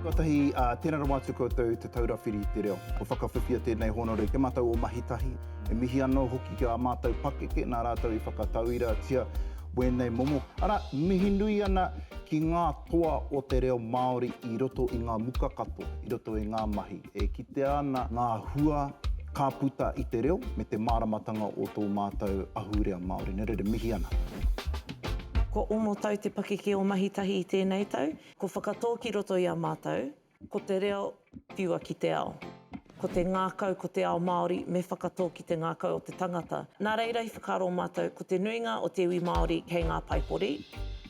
Tuatahi, tēnā rawa atu koutou Te Taura Whiri i te Reo. Kua whakawhiwhia tēnei hōnore i te matau o Mahitahi. He mihi anō hoki ki ā mātou pakeke nā rātou i whakatauiratia wēnei momo. Arā, mihi nui ana ki ngā toa o te reo Māori i roto i ngā muka katoa, i roto i ngā mahi. E kitea ana ngā hua ka puta i te reo me te māramatanga o tō mātou ahurea Māori. Nē reira, mihi ana. Kua ono tau te pakeke o Mahitahi i tēnei tau. Ko Whakatō ki roto i a mātou, ko te reo whiua ki te ao. Ko te ngākau, ko te ao Māori, me whakatō ki te ngākau o te tangata. Nā reira i whakaaro mātou ko te nuinga o te iwi Māori kei ngā paipori,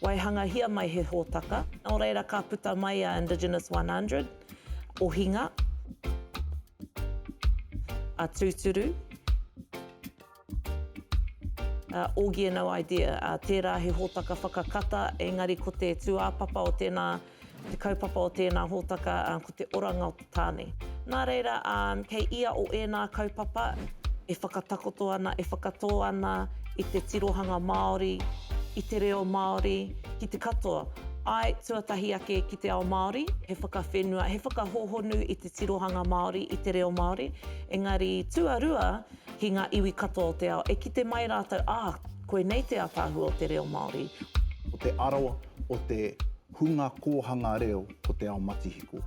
waihangahia mai he hōtaka, nō reira ka puta mai a Indigenous 100. Ohinga, a Tūturu, a Augie no idea, a tērā he hōtaka whakakata, engari ko te tūāpapa o tēnā, te kaupapa o tēnā hōtaka, ko te oranga o te tāne. Nā reira, kei ia o ēnā kaupapa e whakatakoto ana, e whakatō ana i te tirohanga Māori, i te reo Māori, ki te katoa, āe, tuatahi ake, i te ao Māori, he whakawhenua, he whakahōhonu i te tirohanga Māori, i te reo Māori, engari tuarua ki ngā iwi katoa o te ao, e kite mai rātou, ā, koinei te ātaahua o te reo Māori. Ko te aro o te hunga kōhanga reo ko te ao matihiko.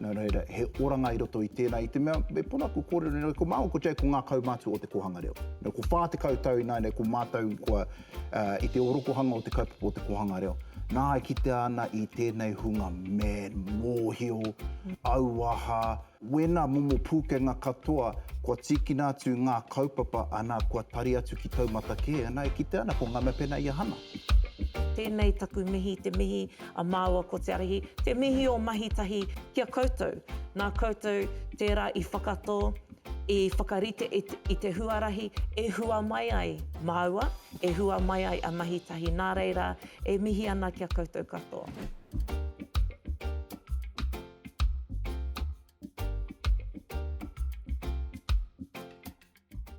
Nō reira, he oranga i roto i tēnā, i te mea, me pono aku kōrero nei, ko māua ko Jake ko ngā kaumātua o te kōhanga reo. Nō, ko 40 tau ināianei ko mātou kua I te orokohanga o te kaupapa o te kōhanga reo, nā e kitea ana i tēnei hunga me mōhio, auaha, wēnā momo pūkenga katoa kua tīkina atu ngā kaupapa ana kua tari atu ki taumata kē, nā e kitea ana ko ngā mea pēnā i ahana. Tēnei taku mihi, te mihi a māua ko Te Arahi, te mihi o Mahitahi ki a koutou. Nā koutou tērā i whakatō, I whakarite i te huarahi e hua mai ai māua, e hua mai ai a Mahi Tahi nā reira e mihi ana ki a koutou katoa.